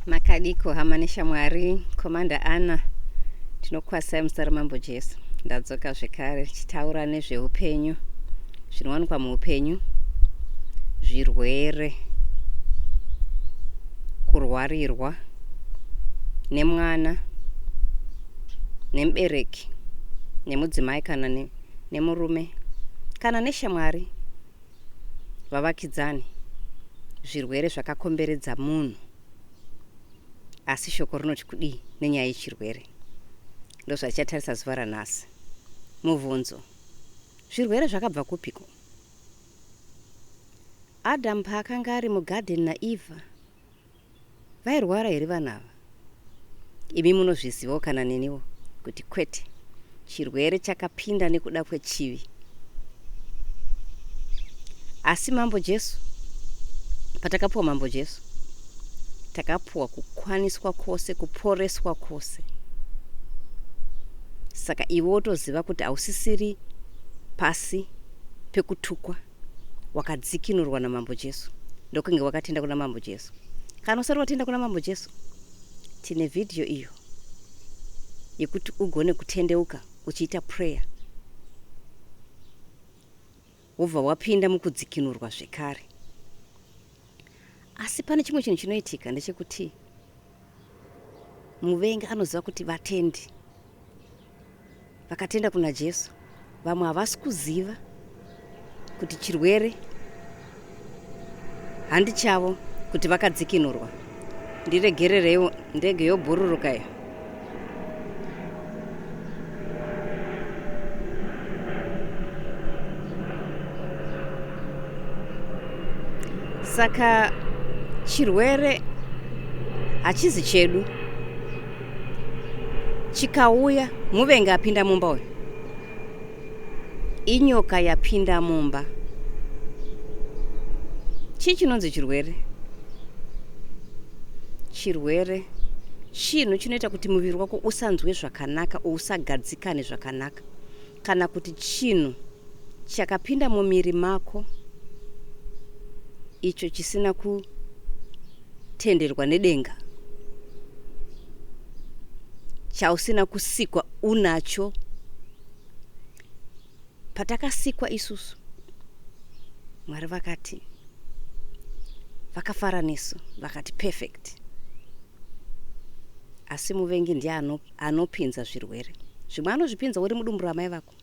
makadiko hama neshamwari komanda ana tinokwasai muzita ramambo jesu ndadzoka zvekare tichitaura nezveupenyu zvinowanikwa muupenyu zvirwere kurwarirwa nemwana nemubereki nemudzimai kana nemurume kana neshamwari vavakidzani zvirwere zvakakomberedza munhu asi shoko rinoti kudii nenyaya yechirwere ndozvachatarisa zuva ranhasi mubvunzo zvirwere zvakabva kupiko adamu paakanga ari mugadheni naeva Vairwara here vana ava? Imi munozvizivawo kana neniwo kuti kwete. Chirwere chakapinda nekuda kwechivi. Asi Mambo Jesu, patakapuwa Mambo Jesu, takapuwa kukwaniswa kwose, kuporeswa kwose. Saka iwe wotoziva kuti hausisiri pasi pekutukwa. wakadzikinurwa namambo jesu ndokunge wakatenda kuna mambo jesu kana usati watenda kuna mambo jesu tine vhidhiyo iyo yekuti ugone kutendeuka uchiita prayer wobva wapinda mukudzikinurwa zvekare asi pane chimwe chinhu chinoitika ndechekuti muvengi anoziva kuti vatendi vakatenda kuna jesu vamwe havasi kuziva kuti chirwere handi chavo kuti vakadzikinurwa Ndiregerereiwo ndege yobhururuka iyo. Saka chirwere hachizi chedu. Chikauya muvengi apinda mumba uyu. inyoka yapinda mumba chii chinonzi chirwere chirwere chinhu chinoita kuti muviri wako usanzwe zvakanaka usagadzikane zvakanaka kana kuti chinhu chakapinda mumiri mako icho chisina kutenderwa nedenga chausina kusikwa unacho patakasikwa isusu mwari vakati vakafara nesu vakati perfect asi muvengi ndiye anopinza zvirwere zvimwe anozvipinza uri mudumbu ramai vako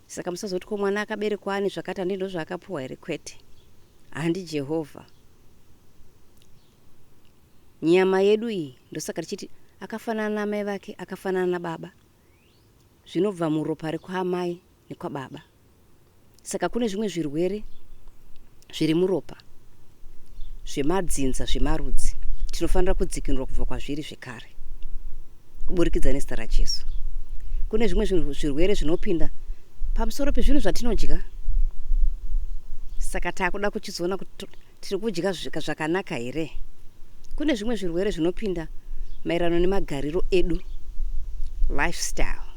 Saka musazoti ko mwana akaberekwa ane zvakati handi ndozvaakapuwa here kwete handi Jehovha nyama yedu iyi ndosaka tichiti akafanana namai vake akafanana nababa zvinobva muropa rekwaamai nekwababa saka kune zvimwe zvirwere zviri muropa zvemadzinza zvemarudzi tinofanira kudzikinurwa kubva kwazviri zvekare kuburikidza nezita rajesu kune zvimwe zvirwere zvinopinda pamusoro pezvinhu zvatinodya saka taakuda kuchizoona kuti tiri kudya zvakanaka here kune zvimwe zvirwere zvinopinda maererano nemagariro edu lifestyle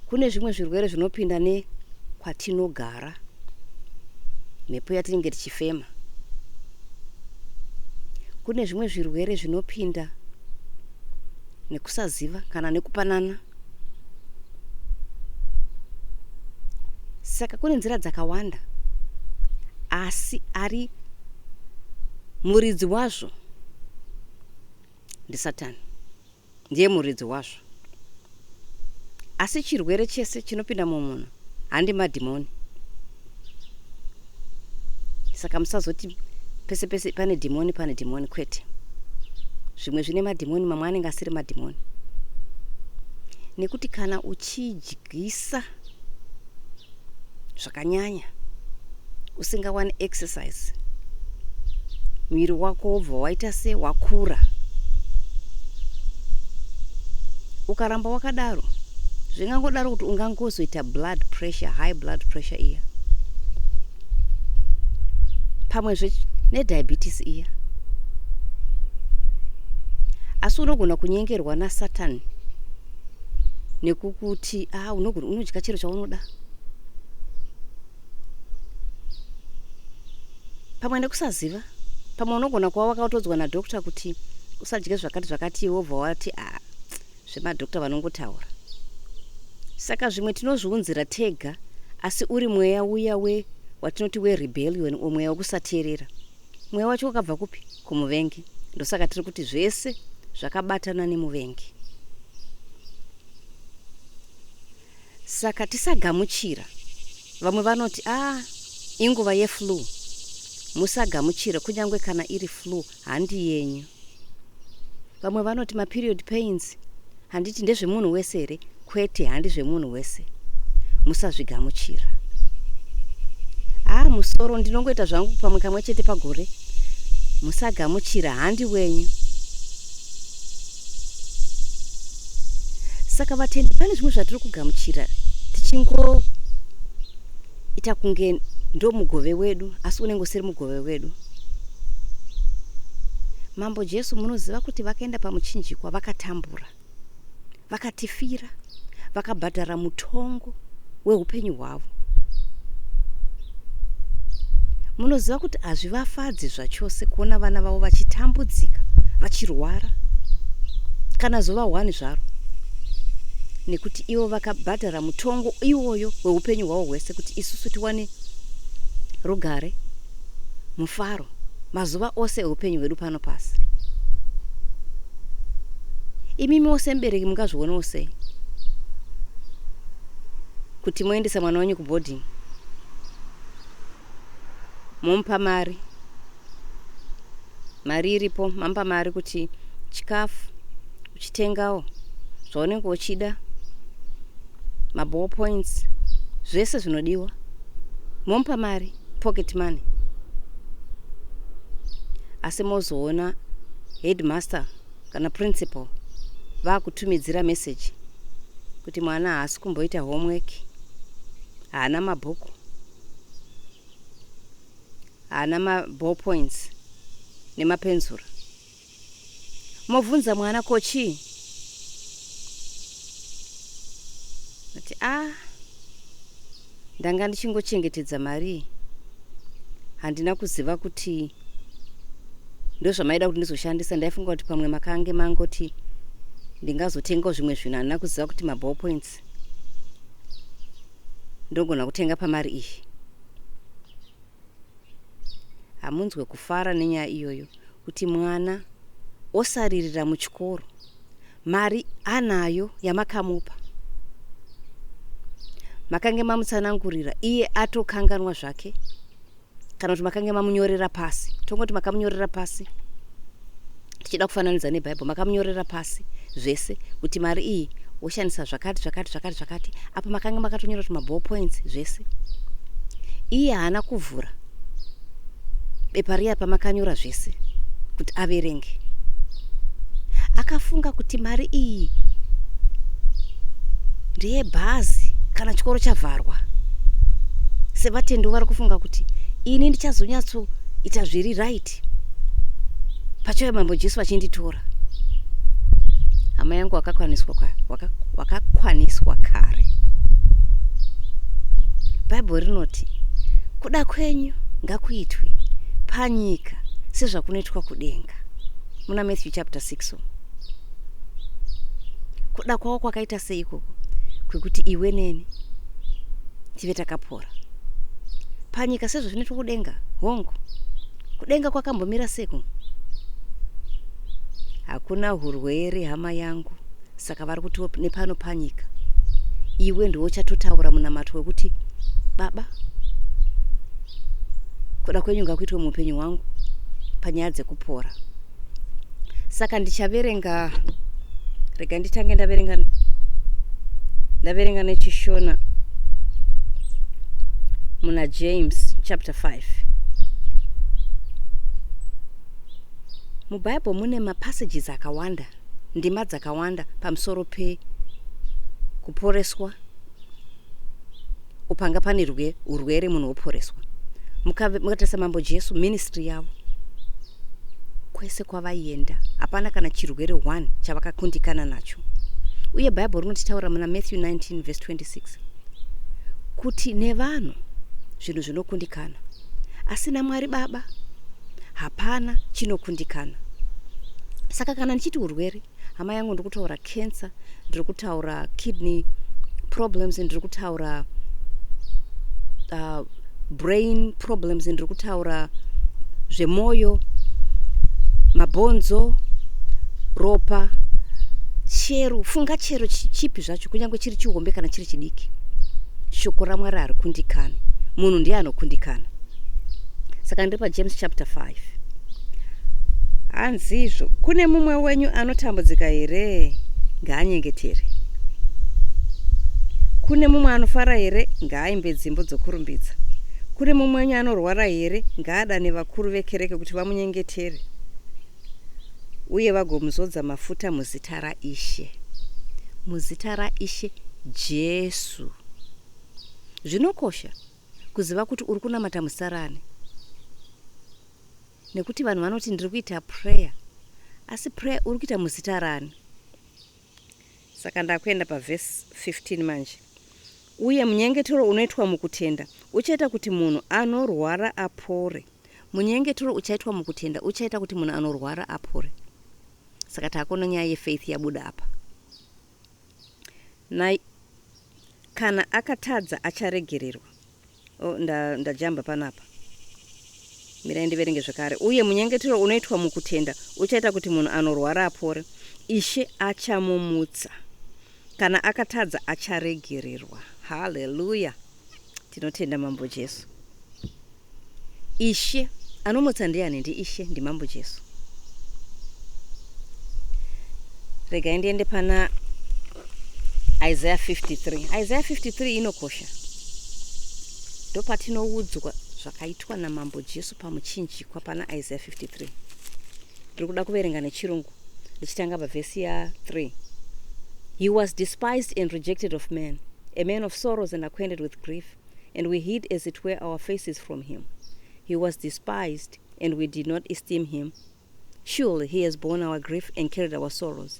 kune zvimwe zvirwere zvinopinda nekwatinogara kugara mhepo yatinenge tichifema kune zvimwe zvirwere zvinopinda nekusaziva kana nekupanana saka kune nzira dzakawanda asi ari muridzi wazvo ndisatani ndiye muridzi wazvo. Asi chirwere chese chinopinda mumunhu handi madhimoni. Saka musazoti pese pese pane dhimoni pane dhimoni kwete. Zvimwe zvine madhimoni mamwe anenge asiri madhimoni. Nekuti kana uchidya Gisa zvakanyanya usingawani exercise muviri wako wobva waita se wakura ukaramba wakadaro zvingangodaro kuti ungangozoita blood pressure high blood pressure iya pamwezve nediabetes iya asi unogona kunyengerwa nasatani nekukuti ah, unogona unodya chero chaunoda pamwe nekusaziva pamwe unogona kuva wakatodzwa nadokta kuti usadye zvakati zvakati iwe wobva wati a ah, zvemadokta vanongotaura saka zvimwe tinozviunzira tega asi uri mweya uya we watinoti werebellion or mweya wekusateerera Mweya wacho wakabva kupi? Kumuvengi. Ndosaka tiri kuti zvese zvakabatana nemuvengi. Saka tisagamuchira. Vamwe vanoti, ah, inguva yeflu. Musagamuchira, kunyange kana iri flu, handi yenyu. vamwe vanoti maperiod pains handiti ndezvemunhu wese here kwete handi zvemunhu wese musazvigamuchira haa musoro ndinongoita zvangu pamwe kamwe chete pagore musagamuchira handi wenyu saka vatendi pane zvimwe zvatiri kugamuchira tichingo ita kunge ndo mugove wedu asi unenge usiri mugove wedu mambo jesu munoziva kuti vakaenda pamuchinjikwa vakatambura vakatifira vakabhadhara mutongo weupenyu hwavo munoziva kuti hazvivafadzi zvachose kuona vana vavo vachitambudzika vachirwara kana zuva hwani zvaro nekuti ivo vakabhadhara kubhadhara mutongo iwoyo weupenyu hwavo hwese kuti isusu tiwane rugare mufaro mazuva ose eupenyu hwedu pano pasi imimiwo semubereki mungazvionawo sei kuti moendesa mwana wenyu kuboarding momupa mari mari iripo mampa mari kuti chikafu uchitengawo zvaunenge uchida maball points zvese zvinodiwa mompa mari pocket money asi mozoona headmaster kana principal vakutumidzira message kuti mwana haasi kumboita homework haana mabhuku haana ma ball points nemapenzura mobvunza mwana ko chii ati a ah, ndanga ndichingochengetedza marii handina kuziva kuti ndozvamaida kuti ndizoshandisa ndaifunga kuti pamwe makange mangoti ndingazotengawo zvimwe zvinhu handina kuziva kuti maball points ndogona kutenga pamari iyi hamunzwe kufara nenyaya iyoyo kuti mwana osaririra muchikoro mari anayo yamakamupa makange mamutsanangurira iye atokanganwa zvake kana kuti makange mamunyorera pasi tongoti makamunyorera pasi tichida kufananidza nebhaibheri makamunyorera pasi zvese kuti mari iyi woshandisa zvakati zvakati zvakati zvakati apa makanga makatonyora kuti maball points zvese iye haana kuvhura bepa riya pamakanyora zvese kuti averenge akafunga kuti mari iyi ndeyebhazi kana chikoro chavharwa sevatendi vari kufunga kuti ini ndichazonyatsoita zviri right kuchurch pachauya mambo jesu vachinditora hama yangu wakakwaniswa waka, waka kare bhaibheri rinoti kuda kwenyu ngakuitwe panyika sezvakunoitwa kudenga muna matthew chapter 6 so. kuda kwavo kwakaita sei ikoko kwekuti iwe neni tive takapo Ora. Panyika sezvo zvinoitwa kudenga, hongu. Kudenga kwakambomira seku. Hakuna hurwere hama yangu, saka vari kutiwo nepano panyika. Iwe ndiwo chatotaura munamato wekuti baba kuda kwenyu ngakuitwe muupenyu hwangu panyaya dzekupora. saka ndichaverenga rega nditange ndaverenga ndaverenga nechishona muna james chapter 5 mubhaibheri mune mapassages akawanda ndima dzakawanda pamusoro pekuporeswa upanga pane rwe urwere munhu woporeswa mukatarisa mambo jesu ministry yavo kwese kwavaienda hapana kana chirwere one chavakakundikana nacho uye bhaibheri rinotitaura muna matthew 19 vese 26 kuti nevanhu zvinhu zvinokundikana asi namwari baba hapana chinokundikana saka kana ndichiti urwere hama yangu ndiri kutaura cancer ndiri kutaura kidney problems ndiri kutaura uh, brain problems ndiri kutaura zvemwoyo mabhonzo ropa chero funga chero chipi zvacho kunyange chiri chihombe kana chiri chidiki shoko ramwari hari kundikani munhu ndiye anokundikana saka ndiri pajames chapter 5 hanzizvo kune mumwe wenyu anotambudzika here ngaanyengetere kune mumwe anofara here ngaaimbe dzimbo dzokurumbidza kune mumwe wenyu anorwara here ngaadane vakuru vekereke kuti vamunyengetere uye vagomuzodza mafuta muzita raishe muzita raishe jesu zvinokosha kuziva kuti uri kunamata musarani nekuti vanhu vanoti ndiri kuita prayer asi prayer uri kuita muzita rani saka ndakuenda pavhesi 15 manje uye munyengetero unoitwa mukutenda uchaita kuti munhu anorwara apore munyengetero uchaitwa mukutenda uchaita kuti munhu anorwara apore saka taakona nyaya yefaith yabuda apa na kana akatadza acharegererwa Oh, nda, ndajamba panapa. Mirai ndiverenge zvekare. Uye munyengetero unoitwa mukutenda uchaita kuti munhu anorwara apore. Ishe achamumutsa. Kana akatadza acharegererwa. Haleluya. Tinotenda Mambo Jesu. Ishe anomutsa ndiani? Ndi Ishe, ndi Mambo Jesu. Regai ndiende pana Isaiah 53. Isaiah 53 inokosha. ndopatinoudzwa zvakaitwa namambo jesu pamuchinjikwa pana isaiah 53 ndiri kuda kuverenga nechirungu ndichitanga pavhesi ya3 he was despised and rejected of man a man of sorrows and acquainted with grief and we hid as it were our faces from him he was despised and we did not esteem him surely he has borne our grief and carried our sorrows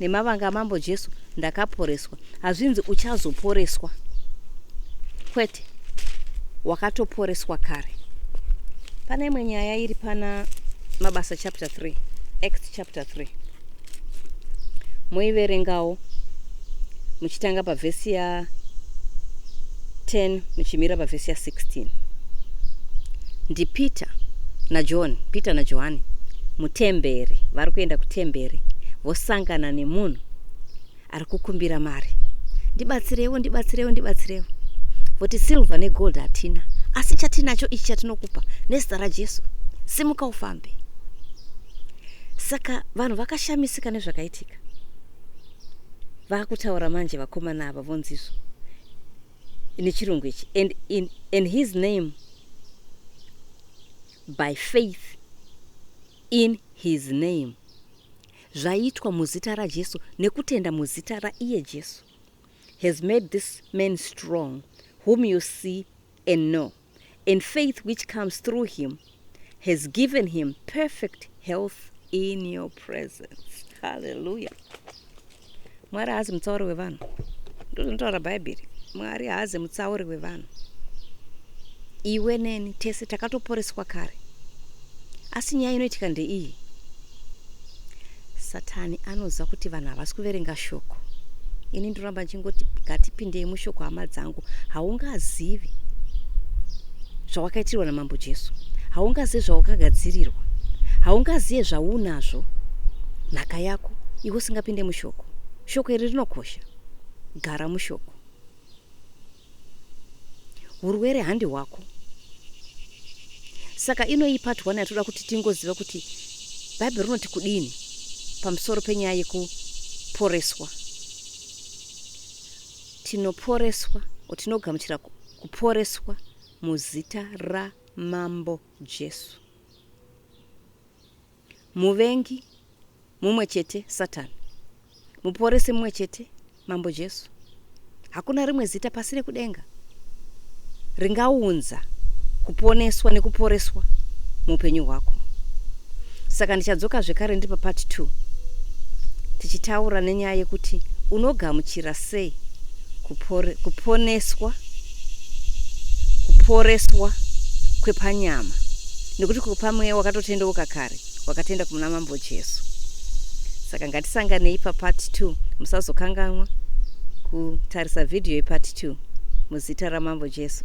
Nemavanga amambo Jesu ndakaporeswa. Hazvinzi uchazoporeswa. Kwete. Wakatoporeswa kare. Pane imwe nyaya iri pana Mabasa chapter 3, Acts chapter 3. Moiverengawo. muchitanga pavhesi ya 10 muchimira pavhesi ya 16 ndipeter najohn peter najohani mutemberi vari kuenda kutemberi vosangana nemunhu ari kukumbira mari ndibatsirewo ndibatsirewo ndibatsirewo voti silver negold hatina asi chatinacho ichi chatinokupa nezita rajesu simuka ufambe saka vanhu vakashamisika nezvakaitika vakutaura manje vakomana ava vonzizvo nechirungu ichi and in, in his name by faith in his name zvaitwa muzita rajesu nekutenda muzita raiye jesu has made this man strong whom you see and know and faith which comes through him has given him perfect health in your presence haleluya mwari haazi mutsauri wevanhu ndozvinotaura bhaibheri mwari haazi mutsauri wevanhu iwe neni tese takatoporeswa kare Asi nyaya inoitika ndeiyi, Satani anoziva kuti vanhu havasi kuverenga shoko. Ini ndinoramba ndichingoti ngatipindei mushoko hama dzangu. Haungazivi zvawakaitirwa naMambo Jesu. Haungazivi zvawakagadzirirwa. Haungazive zvaunazvo nhaka yako iwe usingapinde mushoko. Shoko iri rinokosha. Gara mushoko. Hurwere handi hwako. Saka inoyi part one yatoda kuti tingoziva kuti Bible rinoti kudini pamusoro penyaya yekuporeswa. Tinoporeswa, or tinogamuchira kuporeswa muzita raMambo Jesu. Muvengi mumwe chete Satan. Muporesi mumwe chete Mambo Jesu. Hakuna rimwe zita pasi rekudenga ringaunza kuponeswa nekuporeswa muupenyu hwako. Saka ndichadzoka zvekare ndiri papart 2 tichitaura nenyaya yekuti unogamuchira sei kuponeswa kuporeswa kwepanyama nekuti kupa mweya wakatotendeuka kare wakatenda kumuna mambo jesu saka ngatisanganei papart 2 musazokanganwa kutarisa vhidhiyo yepart 2 muzita ramambo jesu